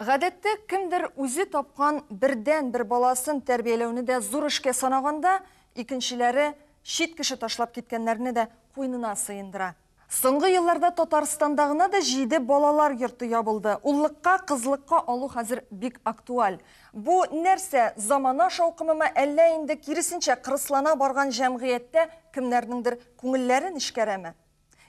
Гадәттә, кемдер үзе тапкан бердәнбер баласын тәрбияләүне дә зур эшкә санаганда, икенчеләре чит кеше ташлап киткәннәрне дә куенына сыендыра. Соңгы елларда Татарстанда гына да җиде балалар йорты ябылды. Уллыкка, кызлыкка алу хәзер бик актуаль. Бу, нәрсә, замана шаукымымы, әллә инде, киресенчә, кырыслана барган җәмгыятьтә кемнәрнеңдер күңелләрен эшкәрәме?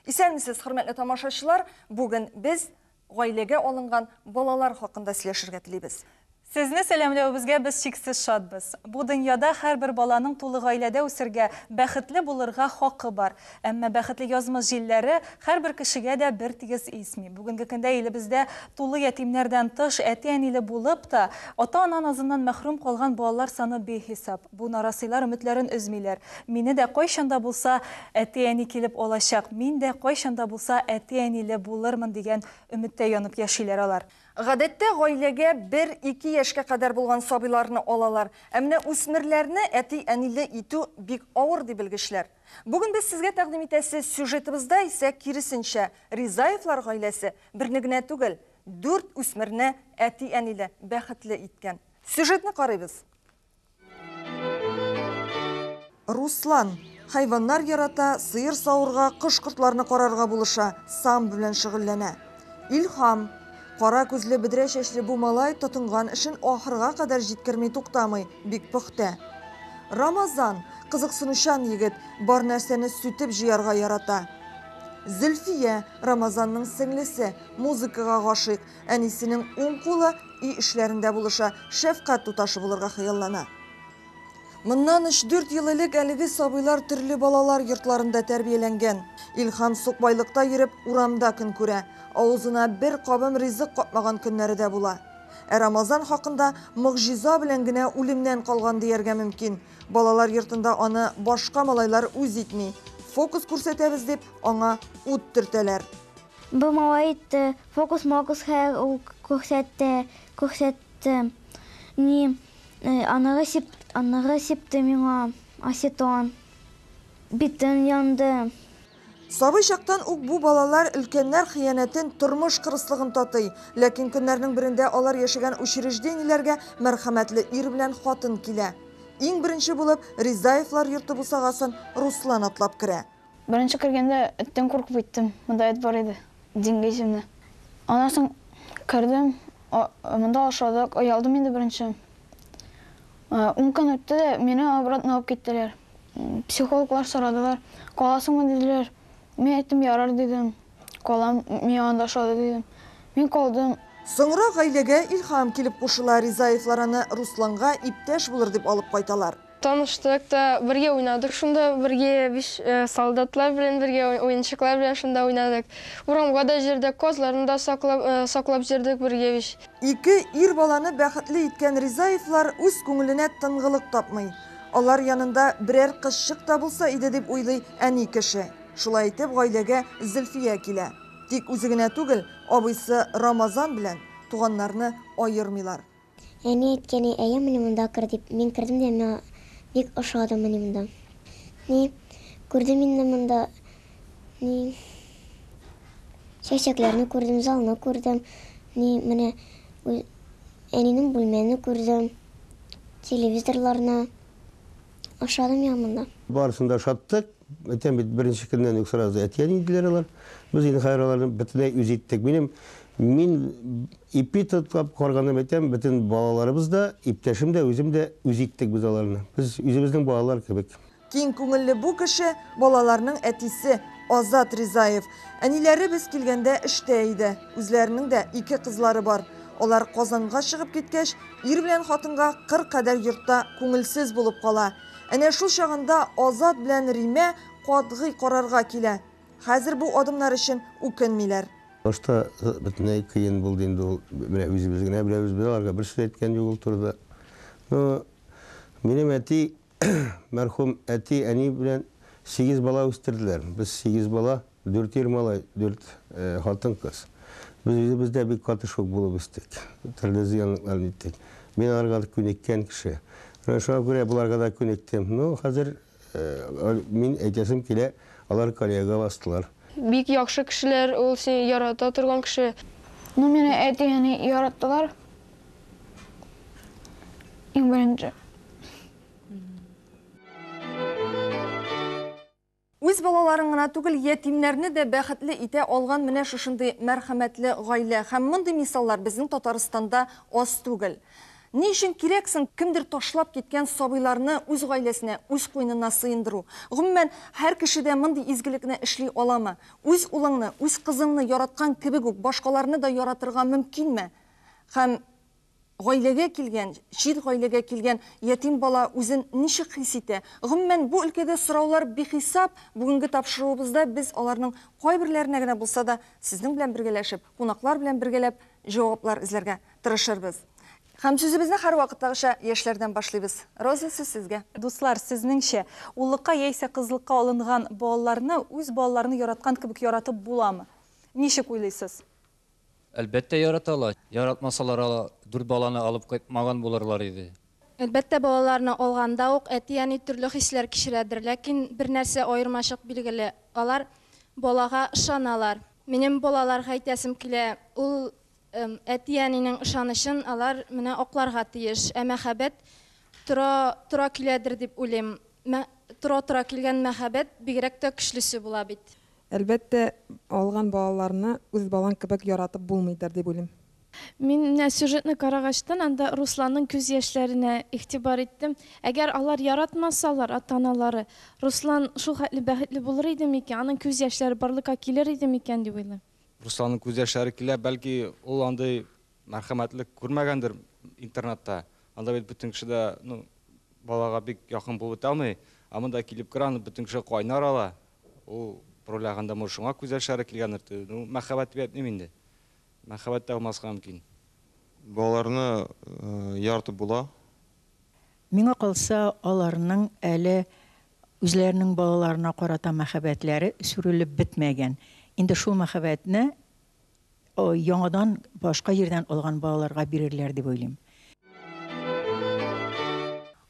Исәнмесез, хөрмәтле тамашачылар! Бүген без гаиләгә алынган балалар хакында сөйләшергә телибез. Сезне сәламләвебезгә без чиксез шатбыз. Бу дөньяда һәрбер баланың тулы гаиләдә үсергә, бәхетле булырга хакы бар. Әмма бәхетле язмыш җилләре һәрбер кешегә дә бертигез исми. Бүгенге көндә илебездә тулы ятимнәрдән тыш, әти-әниле булып та, ата-ана назыннан мәхрүм калган балалар саны бихисап. Бу нарасыйлар өметләрен өзмиләр. Мине дә кайчан да булса әти-әни килеп алачак, мин дә кайчан да булса әти-әниле булырмын дигән өметтә янып яшиләр алар. Гадәттә, гаиләгә бер-ике яшькә кадәр булган сабыйларны алалар, ә менә үсмерләрне әти-әниле итү бик авыр, ди белгечләр. Бүген без сезгә тәкъдим итәсе сюжетыбызда исә киресенчә, Ризаевлар гаиләсе берне генә түгел, дүрт үсмерне әти-әниле, бәхетле иткән. Сюжетны карыйбыз. Руслан, хайваннар ярата, сыер савырга, кош-кортларны карарга булыша, самбо белән шөгыльләнә. Илһам, кара күзле, бөдрә чәчле бу малай тотынган эшен ахырга кадәр җиткерми туктамый, бик пөхтә. Рамазан, кызыксынучан егет, бар нәрсәне сүтеп җыярга ярата. Зөлфия, Рамазанның сеңлесе, музыкага гашыйк, Әнисенең уң кулы, өй эшләрендә булыша, шәфкать туташы булырга хыяллана. Моннан өч-дүрт ел элек әлеге сабыйлар төрле балалар йортларында тәрбияләнгән. Илһам сукбайлыкта йөреп, урамда көн күрә, авызына бер кабым ризык капмаган көннәре дә була. Ә Рамазан хакында могҗиза белән генә үлемнән калган дияргә мөмкин. Балалар йортында аны башка малайлар үз итми. Фокус күрсәтәбез дип, аңа ут төртәләр. Бу малай итте, фокус-мокус хәер ул күрсәтте, күрсәтте. Ни, аныры сип, аныры сипте миңа осетон. Битем янды. Сабый чактан ук бу балалар өлкәннәр хыянәтен, тормыш кырыслыгын татый. Ләкин көннәрнең берендә алар яшәгән учреждениеләргә мәрхәмәтле ир белән хатын килә. Иң беренче булып Ризаевлар йорты бусагасын Руслан атлап керә. Беренче кергәндә эттән куркып киттем, монда эт бар иде, Диңгә исемле. Аннан соң кердем, монда ашадык, оялдым инде беренче. Ун көн үтте дә, мине обратно алып киттеләр. Психологлар сорадылар, каласыңмы диделәр. Мин әйттем, ярар дидем, калам, миңа анда ошады дидем. Мин калдым. Соңрак гаиләгә Илһам килеп кушыла, Ризаевлар аны Русланга иптәш булыр дип алып кайталар. Таныштык та, бергә уйнадык шунда, бергә биш солдатлар белән бергә, уенчыклар белән шунда уйнадык. Урамга да җөрдек, казларны да саклап, саклап җөрдек бергә биш. Ике ир баланы бәхетле иткән Ризаевлар үз күңеленә тынгылык тапмый. Алар янында берәр кызчык та булса иде дип уйлый әни кеше. Шулай итеп гаиләгә Зөлфия килә. Тик үзе генә түгел, абыйсы Рамазан белән туганнарны аермыйлар. Әни әйткәне, әйе, мени монда кер дип. Мин кердем дә миңа бик ошады мени монда. Ни, күрдем инде монда, ни, чәчәкләрне күрдем, залны күрдем, ни, менә әнинең бүлмәне күрдем, телевизорларны. Ошады миңа монда. Барысын да ошаттык. Әйтәм бит, беренче көннән үк сразу әтиәни диделәр алар. Без инде хәзер аларны бөтенләй үз иттек. Минем мин ипи тотлап карганым әйтәм, бөтен балаларыбыз да, иптәшем дә, үзем дә үз иттек без аларны. Без үзебезнең балалар кебек. Киң күңелле бу кеше, балаларның әтисе Азат Ризаев. Әниләре без килгәндә эштә иде. Үзләренең дә ике кызлары бар. Алар Казанга чыгып киткәч, ир белән хатынга кыр кадәр йортта күңелсез булып кала. Әнә шул чагында Азат белән Римә катгый карарга килә. Хәзер бу адымнар өчен үкенмиләр. Башта бөтенләй кыен булды инде ул. Менә үзебез генә беләбез, без аларга бер сүз әйткән юк ул турыда. Ну, минем әти, мәрхүм әти, әни белән сигез бала үстерделәр. Без сигез бала. Дүрт ир малай, дүрт хатын-кыз. Без үзебез дә бик каты шок булып үстек. Төрле зыянлыкларны иттек. Мин аларга күнеккән кеше. Менә шуңа күрә боларга да күнектем. Ну, хәзер мин әйтәсем килә, алар коллега бастылар. Бик яхшы кешеләр, ул сине ярата торган кеше. Ну, мине әти-әни яраттылар, иң беренче. Үз балаларын гына түгел, ятимнәрне дә бәхетле итә алган менә шушындый мәрхәмәтле гаилә. Һәм мондый мисаллар безнең Татарстанда аз түгел. Ни өчен кирәк соң кемдер ташлап киткән сабыйларны үз гаиләсенә, үз куенына сыендыру? Гомумән, һәр кеше дә мондый изгелекне эшли аламы? Үз улыңны, үз кызыңны яраткан кебек үк башкаларны да яратырга мөмкинме? Һәм Гаиләгә килгән, чит гаиләгә килгән ятим бала үзен ничек хис итә? Гомумән, бу өлкәдә сораулар бихисап, бүгенге тапшыруыбызда без аларның кайберләренә генә булса да, сезнең белән бергәләшеп, кунаклар белән бергәләп җаваплар эзләргә тырышырбыз. Һәм сүзебезне һәрвакыттагыча яшьләрдән башлыйбыз. Роза, сүз сезгә. Дуслар, сезнеңчә, уллыкка яисә кызлыкка алынган балаларны үз балаларны яраткан кебек яратып буламы? Ничек уйлыйсыз? Әлбәттә, яраталар. Яратмасалар, алар дүрт баланы алып кайтмаган булырлар иде. Әлбәттә, балаларны алганда ук әти-әни төрле хисләр кичерәдер, ләкин бер нәрсә аермачык билгеле, алар балага ышаналар. Минем балаларга әйтәсем килә, ул әти-әнинең ышанычын алар менә акларга тиеш. Ә мәхәббәт тора, тора киләдер дип уйлыйм. Тора-тора килгән мәхәббәт бигрәк тә көчлесе була бит. Әлбәттә, алган балаларны үз балаң кебек яратып булмыйдыр, дип уйлыйм. Мин менә сюжетны карагачтын, анда Русланның күз яшьләренә игътибар иттем. Әгәр алар яратмасалар, ата-аналары, Руслан шул хәтле бәхетле булыр иде микән, аның күз яшьләре барлыкка килер иде микән, дип уйлыйм. Русланның күз яшьләре килә, бәлки, ул андый мәрхәмәтлек күрмәгәндер интернатта. Анда бит бөтен кеше дә, ну, балага бик якын булып бетә алмый. Ә монда килеп керә, аны бөтен кеше кайнар ала. Ул роль аганда мур шуңа күз яшьләре килгәндер т ну мәхәббәт дип әйтмим инде. Мәхәббәт тә булмаска мөмкин. Балаларны яратып була. Миңа калса, аларның әле үзләренең балаларына карата мәхәббәтләре сүрелеп бетмәгән. Инде шул мәхәббәтне яңадан башка җирдән алган балаларга бирерләр дип уйлыйм.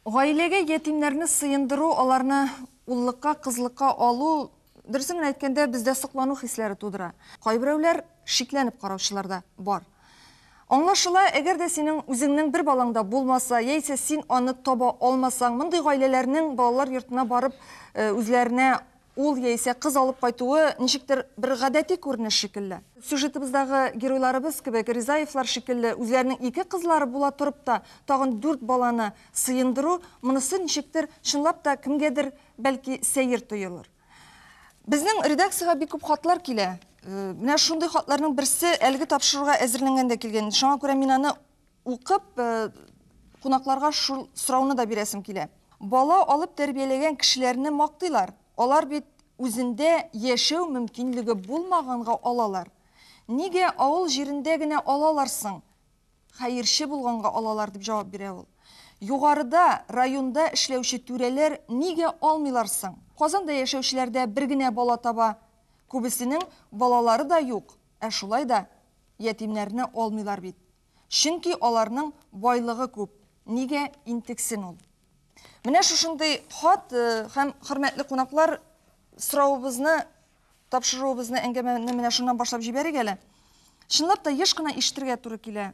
Гаиләгә ятимнәрне сыендыру, аларны уллыкка, кызлыкка алу, дөресен генә әйткәндә, бездә соклану хисләре тудыра. Кайберәүләр шикләнеп караучылар да бар. Аңлашыла, әгәр дә синең үзеңнең бер балаң да булмаса, яисә син аны таба алмасаң, мондый гаиләләрнең балалар йортына барып, үзләренә Ул яисә кыз алып кайтуы ничектер бер гадәти күренеш шикелле. Сюжетыбыздагы геройларыбыз кебек, Ризаевлар шикелле, үзләренең ике кызлары була торып та, тагын дүрт баланы сыендыру, монысы ничектер, чынлап та, кемгәдер, бәлки, сәер тоелыр. Безнең редакциягә бик күп хатлар килә. Менә шундый хатларның берсе әлеге тапшыруга әзерләнгәндә килгән иде. Шуңа күрә мин аны Укып, кунакларга шул сорауны да бирәсем килә. Бала алып тәрбияләгән кешеләрне мактыйлар. Алар бит үзендә яшәү мөмкинлеге булмаганга алалар. Нигә авыл җирендә генә алалар соң? Хәерче булганга алалар, дип җавап бирә ул. Югарыда, районда эшләүче түрәләр нигә алмыйлар соң? Казанда яшәүчеләр дә бер генә бала таба. Күбесенең балалары да юк, ә шулай да ятимнәрне алмыйлар бит. Чөнки аларның байлыгы күп, нигә интексен ул? Менә шушындый хат һәм хөрмәтле кунаклар соравыбызны, тапшыруыбызны, әңгәмәне менә шуннан башлап җибәрик әле. Чынлап та еш кына ишетергә туры килә.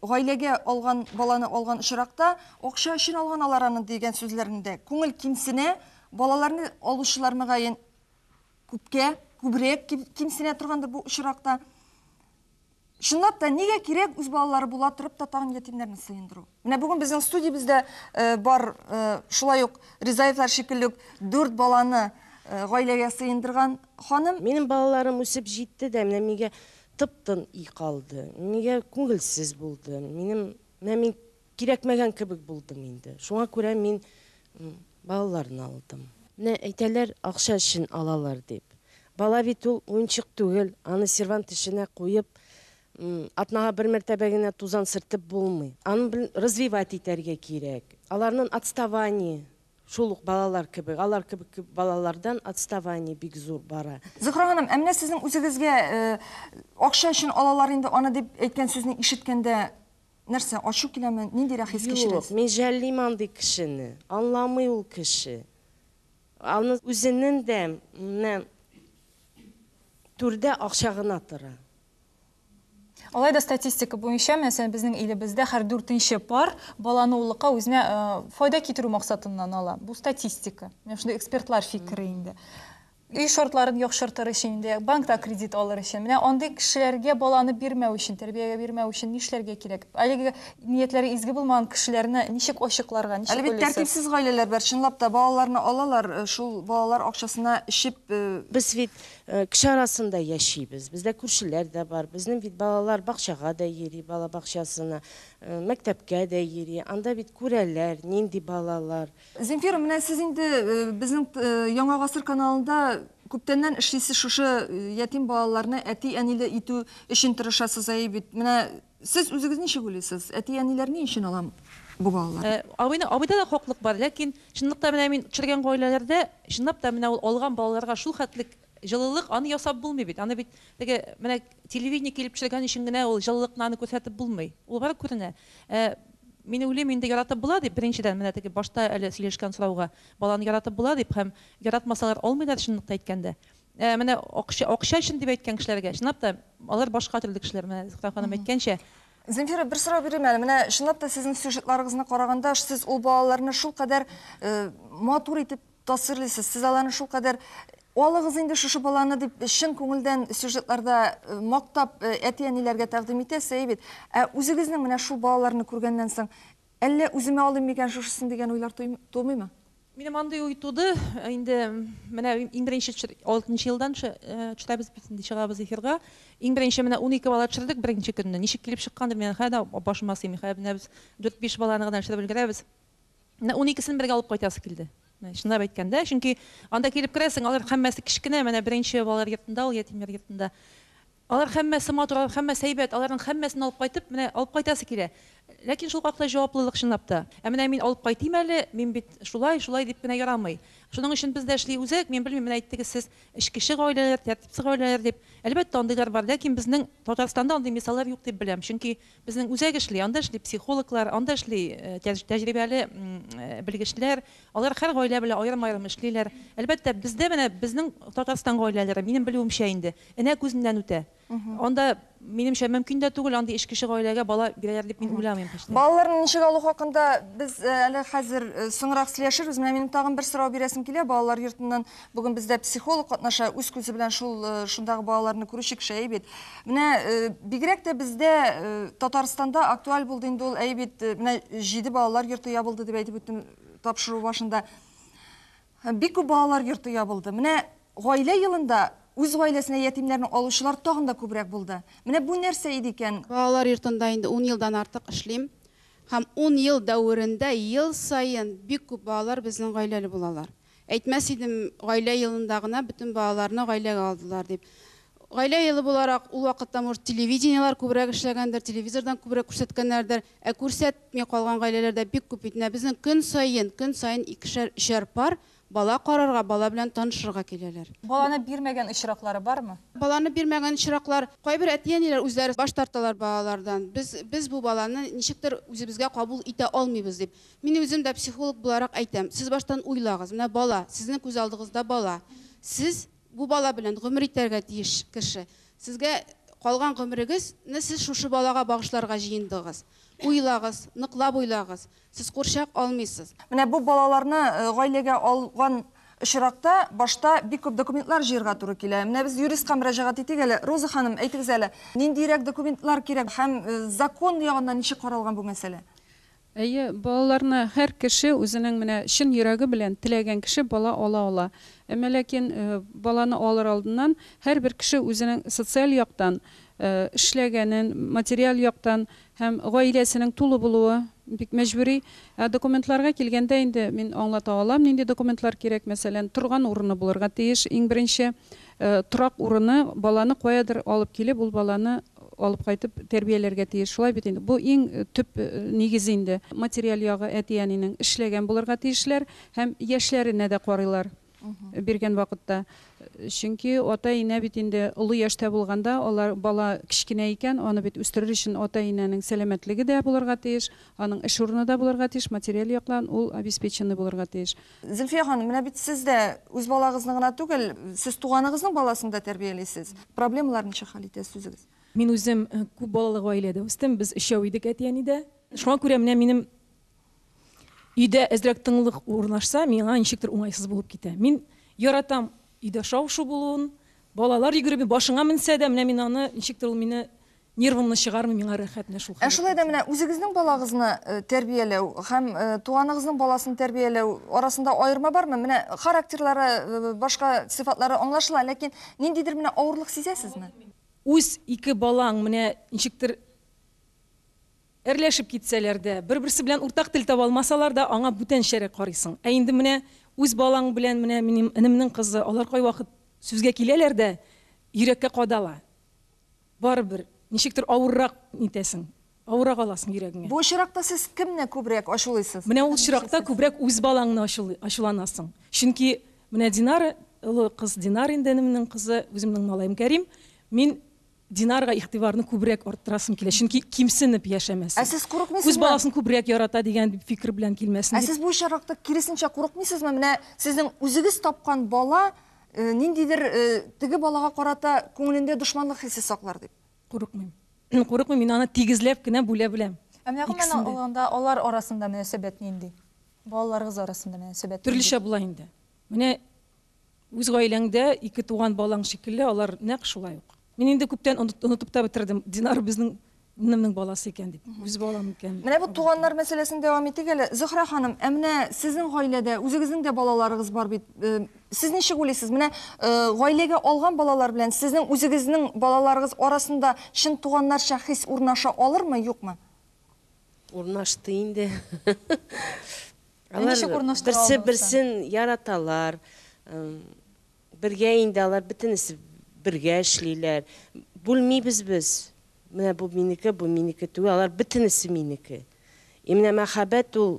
Гаиләгә алган баланы алган очракта, акча өчен алган алар аны дигән сүзләрендә күңел кимсенә, балаларны алучылар мөгаен күпкә, күбрәк кимсенә торгандыр бу очракта. Чынлап та, нигә кирәк үз балалары була торып татарның ятимнәрен сыендыру? Менә бүген безнең студиябездә бар шулай ук Ризаевлар шикелле үк дүрт баланы гаиләгә сыендырган ханым. Минем балаларым үсеп җитте дә, менә мигә тып-тын өй калды. Мигә күңелсез булды. Минем, менә мин Кирәкмәгән кебек булдым инде. Шуңа күрә мин балаларны алдым. Менә әйтәләр, акча өчен алалар дип. Бала бит ул, уенчык түгел. Аны сервант эченә куеп, атнага бер мәртәбә генә тузан сертеп булмый. Аны бел, развивать итәргә кирәк. Аларнын отставание шул ук балалар кебек, алар кебек балалардан отставание бик зур бара. Зөһрә ханым, ә менә сезнең үзегезгә акча өчен алалар инде аны дип әйткән сүзне ишеткәндә Нәрсә, ачу киләме? Ниндирәк хис кичерәсез? Юк, мин жәллим андый кешене. Анламый ул кеше. Аны үзенен дә менә түрдә акча гына тора. Алай да статистика буенча, мәсәлән, безнең илебездә һәр дүртенче пар баланы уллыкка үзенә файда китерү максатыннан ала. Бу статистика. Менә шундый экспертлар фикере инде. Өй шартларын яхшыртыр өчен инде, банкта кредит алыр өчен. Менә андый кешеләргә баланы бирмәү өчен, тәрбиягә бирмәү өчен нишләргә кирәк? Әлеге ниятләре изге булмаган кешеләрне ничек ачыкларга, ничек Әле бит уйлыйсыз? тәртипсез гаиләләр бар, чынлап та, балаларны алалар, шул балалар акчасына эчеп, Без бит кеше арасында яшибез, бездә күршеләр дә бар, безнең бит балалар бакчага да йөри, бала бакчасына, мәктәпкә дә йөри, анда бит күрәләр, нинди балалар. Земфира, менә сез инде безнең Яңа гасыр каналында күптәннән эшлисез шушы ятим балаларны әти-әниле итү өчен тырышасыз әйе бит. Менә сез үзегез ничек уйлыйсыз, әти-әниләр ни өчен алам бу балалар? Абыйны абыйда да хаклык бар, ләкин чынлыкта менә мин очраган гаиләләрдә чынлап та менә ул алган балаларга шул хәтлек Җылылык аны ясап булмый бит, аны бит теге менә телевидение килеп төшергән өчен генә ул җылылыкны аны күрсәтеп булмый. Ул бары күренә. Ә мин уйлыйм инде яратып була дип, беренчедән менә теге башта әле сөйләшкән сорауга, баланы яратып була дип һәм яратмасалар алмыйлар чынлыкта әйткәндә. Ә менә акча акча өчен дип әйткән кешеләргә, чынлап та алар башка төрле кешеләр, менә Зөһрә ханым әйткәнчә. Земфира бер сорау бирим әле, менә чынлап та сезнең сюжетларыгызны караганда, сез ул балаларны шулкадәр матур итеп тасвирлыйсыз. Сез аларны шулкадәр алыгыз инде шушы баланы дип чын күңелдән сюжетларда э, мактап э, әти-әниләргә тәкъдим итәсе әй бит. Ә үзегезнең менә шул балаларны күргәннән соң әллә үземә алыйм микән шушысын дигән уйлар тумыймы? Минем андый уй туды. Э, инде менә иң беренче 6 елдан төшерәбез бит инде чыгабыз эфирга. Иң беренче менә 12 бала төшердек беренче көнне. Ничек килеп чыккандыр, мин хәдә башыма сыймый. Хәдә менә без 4-5 баланы гына төшереп өлгерәбез. Менә уникесен бергә алып кайтасы килде. Чынлап әйткәндә, чөнки анда килеп керәсең, алар һәммәсе кечкенә, менә беренче балалар йортында ул, ятимнәр йортында. Алар һәммәсе матур, алар һәммәсе әйбәт, аларның һәммәсен алып кайтып, менә алып кайтасы килә. Ләкин шул хакта җаваплылык чынлап та. Ә менә мин алып кайтыйм әле, мин бит шулай, шулай дип кенә ярамый. Шуның өчен без дә эшли үзәк, мин белмим, менә әйттегез сез, эчкече гаиләләр, тәртипсез гаиләләр дип. Әлбәттә, андыйлар бар, ләкин безнең Татарстанда андый мисаллар юк дип беләм, чөнки Безнең үзәк эшли, анда эшли психологлар, анда эшли тәҗрибәле белгечләр. Алар һәр гаилә белән аерым-аерым эшлиләр. Әлбәттә, бездә менә безнең Татарстан гаиләләре, минем белүемчә инде, энә күзеннән үтә. Анда, минемчә, мөмкин дә түгел, андый эч кеше гаиләгә бала бирәләр дип мин уйламыйм һич тә. Балаларны ничек алу хакында без әле хәзер соңрак сөйләшербез. Менә минем тагын бер сорау бирәсем килә балалар йортыннан. Бүген бездә психолог катнаша, үз күзе белән шул э, шундагы балаларны күрүче кеше әйбит. Менә э, бигрәк тә бездә э, Татарстанда актуаль булды инде ул әйбит. Э, менә җиде балалар йорты ябылды дип әйтеп үттем тапшыру башында. Э, Бик күп балалар йорты ябылды. Менә гаилә елында үз гаиләсенә ятимнәрне алучылар тагын да күбрәк булды. Менә бу нәрсә иде икән? Балалар йортында инде 10 елдан артык эшлим. Һәм 10 ел дәверендә ел саен бик күп балалар безнең гаиләле булалар. Әйтмәс идем, гаилә елында гына бөтен балаларны гаиләгә алдылар дип. Гаилә елы буларак, ул вакытта, может, телевидениеләр күбрәк эшләгәндер, телевизордан күбрәк күрсәткәннәрдер, ә күрсәтми калган гаиләләр дә бик күп бит. Менә безнең көн саен, көн саен икешәр, өчәр пар бала карарга, бала белән танышырга киләләр. Баланы бирмәгән очраклары бармы? Баланы бирмәгән очраклар, кайбер әти-әниләр үзләре баш тарталар балалардан. Без, без бу баланы ничектер үзебезгә кабул итә алмыйбыз дип. Мин үзем дә психолог буларак әйтәм, сез баштан уйлагыз, менә бала, сезнең күз алдыгызда бала. Сез бу бала белән гомер итәргә тиеш кеше. Сезгә калган гомерегез не сез шушы балага багышларга җыендыгыз. Уйлагыз, ныклап уйлагыз. Сез курчак алмыйсыз. Менә бу балаларны гаиләгә алган очракта башта бик күп документлар җыерга туры килә. Менә без юристка мөрәҗәгать итик әле. Роза ханым, әйтегез әле, ниндиерәк документлар кирәк һәм закон ягыннан ничек каралган бу мәсьәлә? Әйе, балаларны һәр кеше үзенең менә чын йөрәге белән теләгән кеше бала ала ала. Әмма ләкин баланы алыр алдыннан һәрбер кеше үзенең социаль яктан эшләгәнен, материаль яктан һәм гаиләсенең тулы булуы бик мәҗбүри. Ә документларга килгәндә инде мин аңлата алам, нинди документлар кирәк. Мәсәлән, торган урыны булырга тиеш, иң беренче торак урыны, баланы каядыр алып килеп, ул баланы алып кайтып тәрбияләргә тиеш, шулай бит инде, бу иң төп нигез инде. Материаль ягы әти-әнинең эшләгән булырга тиешләр һәм яшьләренә дә карыйлар биргән вакытта. Чөнки ата-инә бит инде олы яшьтә булганда, алар бала кечкенә икән, аны бит үстерер өчен ата-инәнең сәламәтлеге дә булырга тиеш, аның эш урыны да булырга тиеш, материаль яктан ул обеспеченный булырга тиеш. Зөлфия ханым, менә бит сез дә үз балагызны гына түгел, сез туганыгызның баласын да тәрбиялисез. Проблемалар ничек хәл итәсез үзегез? Мин үзем күп балалы гаиләдә үстем, без өчәү идек әти-әнидә. Шуңа күрә менә минем өйдә әзрәк тынлык урнашса, миңа ничектер уңайсыз булып китә. Мин яратам өйдә шау-шу булуын, балалар йөгереп башыңа менсә дә, менә мин аны, ничектер ул мине Нервымны чыгармый миңа рәхәтне шул хәләтнең. Ә шулай да менә үзегезнең балагызны тәрбияләү һәм туганыгызның баласын тәрбияләү арасында аерма бармы? Менә характерлары, башка сыйфатлары аңлашыла, ләкин ниндидер менә авырлык сизәсезме? Үз ике балаң менә ничектер әрләшеп китсәләр дә, бер-берсе белән уртак тел таба алмасалар да, аңа бүтәнчәрәк карыйсың. Ә инде менә үз балаң белән, менә минем энемнең кызы, алар кайвакыт сүзгә киләләр дә, йөрәккә кадала. Барыбер, ничектер авыррак итәсең, авыррак аласың йөрәгеңә. Бу очракта сез кемне күбрәк ачулыйсыз? Менә ул очракта күбрәк үз балаңны ачулый, ачуланасың. Чөнки менә Динара, олы кыз Динара инде энемнең кызы, үземнең малаем Кәрим, мин Динарга игътибарны күбрәк арттырасым килә, чөнки кимсенеп яшәмәсен. Ә сез курыкмыйсызмы? Үз баласын күбрәк ярата дигән фикер белән килмәсен дип. Ә сез бу очракта киресенчә курыкмыйсызмы, менә сезнең үзегез тапкан бала Э, ниндидер э, теге балага карата күңелендә дошманлык хисе саклар дип курыкмыйм курыкмыйм мин аны тигезләп кенә бүлә беләм ә менә гомумән алганда алар арасында мөнәсәбәт нинди балаларыгыз арасында мөнәсәбәт төрлечә була инде менә үз гаиләңдә ике туган балаң шикелле алар нәкъ шулай ук Мин инде күптән онытып та бетердем. Динар безнең инемнең баласы икән дип. Үз балам икән. Менә бу туганнар мәсьәләсен дәвам итик әле. Зөхрә ханым, ә менә сезнең гаиләдә үзегезнең дә балаларыгыз бар бит. Э, сез ничек уйлыйсыз? Менә э, гаиләгә алган балалар белән сезнең үзегезнең балаларыгыз арасында чын туганнарча хис урнаша алырмы, юкмы? Урнашты инде. Алар берсе берсен яраталар. Бергә инде алар бөтенесе бергә эшлиләр. Бүлмибез без. Менә бу минеке, бу минеке түгел, алар бөтенесе минеке. И менә мәхәббәт ул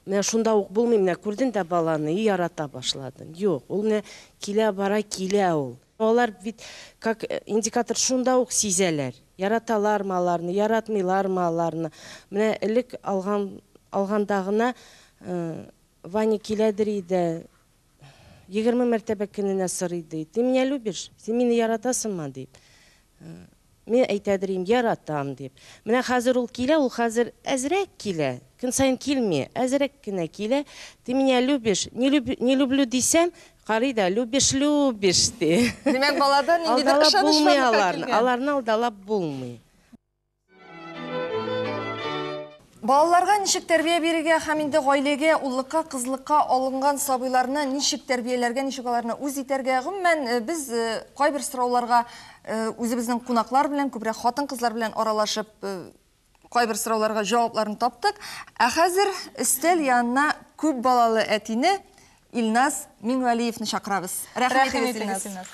менә шунда ук булмый, менә күрден дә баланы и ярата башладым. Юк, ул менә килә бара килә ул. Алар бит как индикатор шунда ук сизәләр. Яраталармы аларны, яратмыйлармы аларны. Менә элек алган алганда гына Ваня киләдер иде, егерме мәртәбә көненә сорый, ди, Ты меня любишь? Син мине яратасыңмы? дип. Мин әйтәдер идем, Яратам, дип. Менә хәзер ул килә, ул хәзер әзрәк килә, көн саен килми, әзрәк кенә килә, Ты меня любишь? Не люблю дисәм, карый да, Любишь, любишь, ди. Димәк, балада ниндидер ышаныч барлыкка килгән. Алдалап булмый аларны. Аларны алдалап булмый. Балаларга ничек тәрбия бирергә һәм инде гаиләгә, уллыкка, кызлыкка алынган сабыйларны ничек тәрбияләргә, ничек аларны үз итәргә, гомумән, э, без э, кайбер сорауларга э, үзебезнең кунаклар белән, күбрәк хатын-кызлар белән аралашып, кайбер сорауларга җавапларын таптык. Ә хәзер өстәл янына күп балалы әтине Илназ Миңгалиевны чакырабыз. Рәхим итегез, Илназ.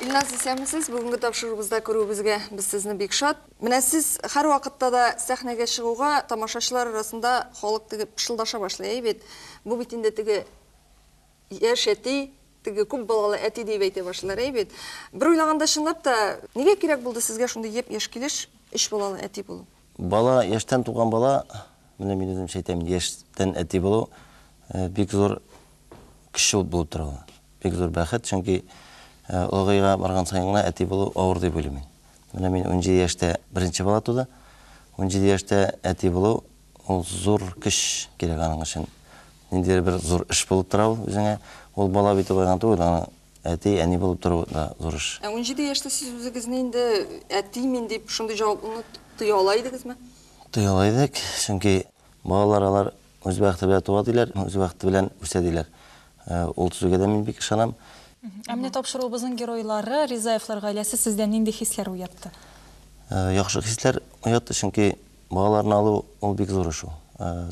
Илназ, исәнмесез. Бүгенге тапшыруыбызда күрүебезгә без сезне бик шат. Менә сез һәрвакытта да сәхнәгә чыгуга, тамашачылар арасында халык теге пышылдаша башлый, әй бит, бу бит инде теге яшь әти, теге күп балалы әти диеп әйтә башлыйлар, әй бит. Бер уйлаганда, чынлап та, нигә кирәк булды сезгә шундый еп-яшь килеш өч балалы әти булу? Бала, яшьтән туган бала, менә мин үземчә әйтәм инде, яшьтән әти булу, бик зур кеше ул булып тора ул. Бик зур бәхет, чөнки олыгая барган саен гына әти булу авыр дип уйлыйм мин. Менә мин унҗиде яшьтә беренче бала туды. Унҗиде яшьтә әти булу, ул зур көч кирәк аның өчен. Ниндидер бер зур эш булып тора ул үзеңә. Ул бала бит ул гына түгел, аны Әти, әни булып тору да зур эш. Ә унҗиде яшьтә сез үзегезне инде әти мин дип шундый җаваплыны тоя ала идегезме? Тоя ала идек, чөнки балалар алар үз бәхете белән туа диләр, үз бәхете белән үсә диләр. Ул сүзгә дә мин бик ышанам. Ә менә тапшыруыбызның геройлары, Ризаевлар гаиләсе сездә нинди хисләр уятты? Яхшы хисләр уятты, чөнки балаларны алу ул бик зур эш ул.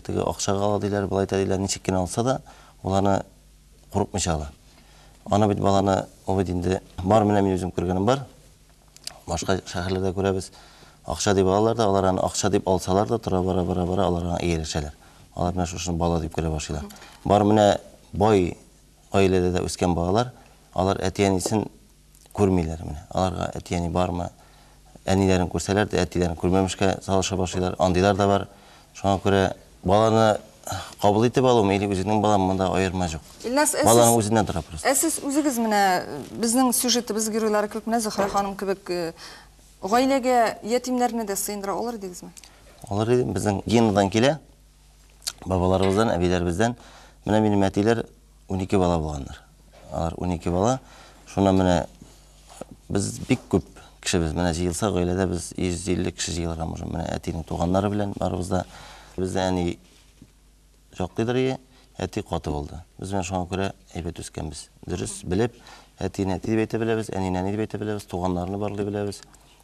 Теге акчага ала диләр, болай итә диләр, ничек кенә алса да, ул аны курыкмыйча ала. Аны бит баланы, ул бит инде бар менә мин үзем күргәнем бар. Башка шәһәрләрдә күрәбез, акча дип алалар да, алар аны акча дип алсалар да, тора бара бара бара алар аңа ияләшәләр. Алар менә шушыны бала дип күрә башлыйлар. Бар менә бай гаиләдә дә үскән балалар, алар әти-әнисен күрмиләр менә. Аларга әти-әни бармы? Әниләрен күрсәләр дә, әтиләрен күрмәмешкә салыша башлыйлар. Андыйлар да бар. Шуңа күрә баланы кабул итеп алуым или үзеңнең балам, монда аерма җук. Илназ, ә сез Баланың үзеннән тора просто. Ә сез үзегез менә безнең сюжетыбыз геройлары кебек, менә Зөһрә ханым кебек гаиләгә ятимнәрне дә сыендыра алыр идегезме? Алыр идем. Безнең гендан килә. бабаларыбыздан, әбиләребездән, менә минем әтиләр унике бала булганнар. Алар унике бала. Шуннан менә без бик күп кешебез. Менә җыелса, гаиләдә без 150 кеше җыелырга можем. Менә әтинең туганнары белән барыбыз да. Бездә әни шактыйдыр ие, әти каты булды. Без менә шуңа күрә әйбәт үскәнбез. Дөрес белеп, әтине әти дип әйтә беләбез, әнине әни дип әйтә беләбез, туганнарны барлый беләбез.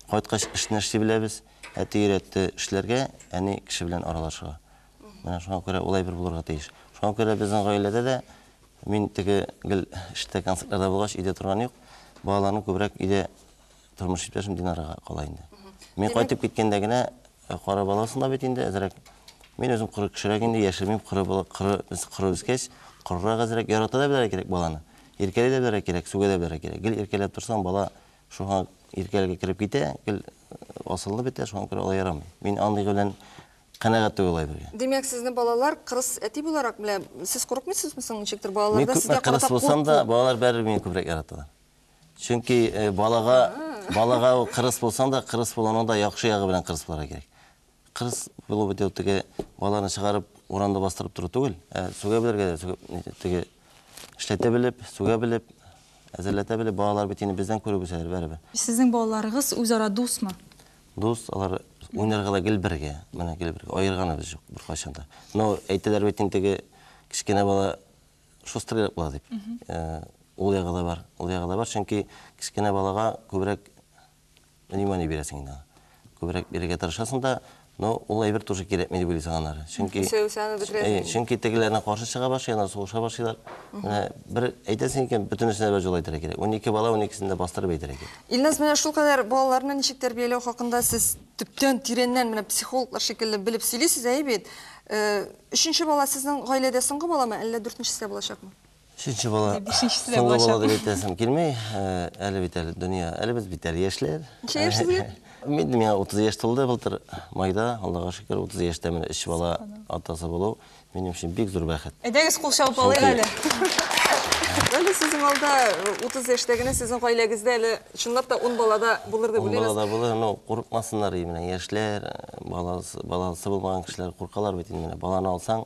Кайткач, эшне эшли беләбез. Әти өйрәтте эшләргә, әни кеше белән аралашырга. Менә шуңа күрә ул әйбер булырга тиеш. Шуңа күрә безнең гаиләдә дә мин теге гел эштә концертларда булгач, өйдә торган юк. Балаларны күбрәк өйдә тормыш иптәшем Динарага кала инде. Мин кайтып киткәндә генә э, кара баласын да бит инде әзрәк. Мин үзем коры кешерәк инде, яшермим, коры бала, коры, без коры үскәч, корырак әзрәк, ярата да белергә кирәк баланы. Иркәли дә белергә кирәк, сүгә дә белергә кирәк. Гел иркәләп торсаң, бала Шуңа иркәләргә кереп китә, гел асылынып бетә, шуңа күрә алай ярамый. Мин андый белән канәгать түгел алай бергә. Димәк, сезне балалар кырыс әти буларак белә. Сез курыкмыйсызмы соң ничектер балаларда сезгә карата курку? Мин күпме кырыс булсам да, балалар бәрер мине күбрәк яраталар. Чөнки балага, балага кырыс булсаң да, кырыс булуның да яхшы ягы белән кырыс булырга кирәк. Кырыс булып бит ул теге балаларны чыгарып урамда бастырып тору түгел, ә сүгә белергә дә, сүгеп, ни, теге эшләтә белеп, сүгә белеп, әзерләтә белеп, балалар бит инде бездән күреп үсәләр барыбер. Сезнең балаларыгыз үзара дусмы? Дус, алар уйнарга да гел бергә, менә гел бергә, аерганыбыз җук беркайчан да. Но әйтәләр бит инде теге кечкенә бала шустрыйрак була дип. Ул ягы да бар, ул ягы да бар, чөнки кечкенә балага күбрәк внимание бирәсең инде аңа. Күбрәк бирергә тырышасың да, но ул әйбер тоже кирәкми дип уйлыйсың аннары. Чөнки Исәнмесеңне бетерәсең. Әйе, чөнки тегеләренә каршы чыга башлый, аннары сугыша башлыйлар. Менә бер әйтәсең икән, бөтенесенә бер җолы әйтергә кирәк. Унике бала, уникесен дә бастырып әйтергә кирәк. Илназ, менә шулкадәр балаларны ничек тәрбияләү хакында сез төптән, тирәннән, менә психологлар шикелле белеп сөйлисез, әйе бит? Өченче бала сезнең гаиләдә соңгы баламы, әллә дүртенчесе дә булачакмы? Өченче бала, соңгы бала дип әйтәсем килми. Э, әле бит әле дөнья, әле без бит әле яшьләр. Ничә яшьсезгә? Мин миңа 30 яшь тулды былтыр майда. Аллага шөкер, 30 яшьтә менә өч бала атасы булу минем өчен бик зур бәхет. Әйдәгез кул чабып алыйк әле. Әле сезнең алда 30 э, яшьтә генә сезнең гаиләгездә әле чынлап та 10 балада булыр дип уйлыйбыз. 10 балада булыр, но курыкмасыннар менә яшьләр, э, баласы баласы булмаган кешеләр куркалар бит инде менә баланы алсаң,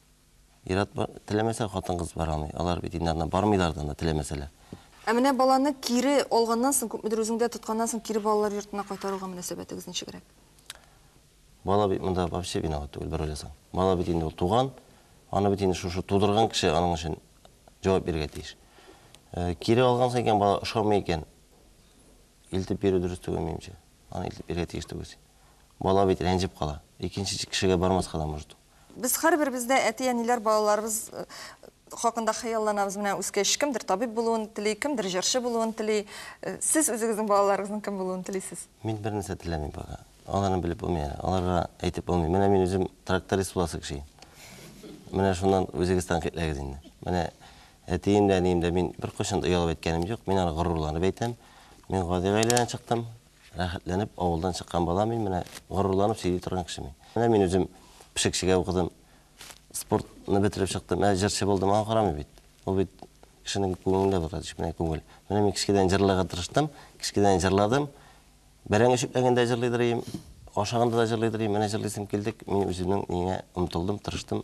Ир-ат бар, теләмәсә хатын-кыз бара алмый. Алар бит инде аннан бармыйлар да анда, теләмәсәләр. Ә менә баланы кире алганнан соң, күпмедер үзеңдә тотканнан соң, кире балалар йортына кайтаруга мөнәсәбәтегез ничегрәк? Бала бит монда вообще виноват түгел, бер уйласаң. Бала бит инде ул туган, аны бит инде шушы тудырган кеше аның өчен җавап бирергә тиеш. Кире алгансың икән, бала ошамый икән, илтеп бирү дөрес түгел, минемчә. Аны илтеп бирергә тиеш түгел син. Бала бит рәнҗеп кала. Икенче кешегә бармаска да может ул. Без һәрберебез дә әти-әниләр балаларыбыз хакында хыялланабыз. Менә үскәч, кемдер табиб булуын тели, кемдер җырчы булуын тели. Сез үзегезнең балаларыгызның кем булуын телисез? Мин бернәрсә теләмим пока. Аларны белеп булмый әле. Аларга әйтеп булмый. Менә мин үзем тракторист буласы кеше идем. Менә шуннан үзегез тәнкыйтьләгез инде. Менә әтием дә, әнием дә, мин беркайчан да оялып әйткәнем юк. Мин аны горурланып әйтәм. Мин гади гаиләдән чыктым. Рәхәтләнеп авылдан чыккан бала мин, менә горурланып сөйли торган кеше мин. Менә мин үзем пешекчегә укыдым, спортны бетереп чыктым, ә җырчы булдым, аңа карамый бит. Ул бит кешенең күңелендә бара, кечкенә күңел. Менә мин кечкенәдән җырларга тырыштым, кечкенәдән җырладым. Бәрәңге чүпләгәндә дә җырлый дырыйм, ашаганда да җырлый дырыйм, менә җырлыйсым килде, мин үземнең миңа омтылдым, тырыштым.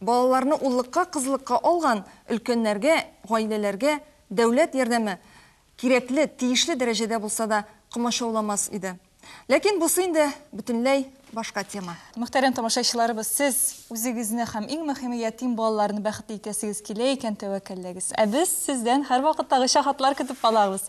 Балаларны уллыкка-кызлыкка алган өлкәннәргә, гаиләләргә дәүләт ярдәме кирәкле, тиешле дәрәҗәдә булса да комачауламас иде. Ләкин бусы инде бөтенләй башка тема. Мөхтәрәм тамашачыларыбыз, сез үзегезне һәм иң мөхиме ятим балаларны бәхетле итәсегез килә икән, тәвәккәлләгез. Ә без сездән һәрвакыттагыча хатлар көтеп калабыз.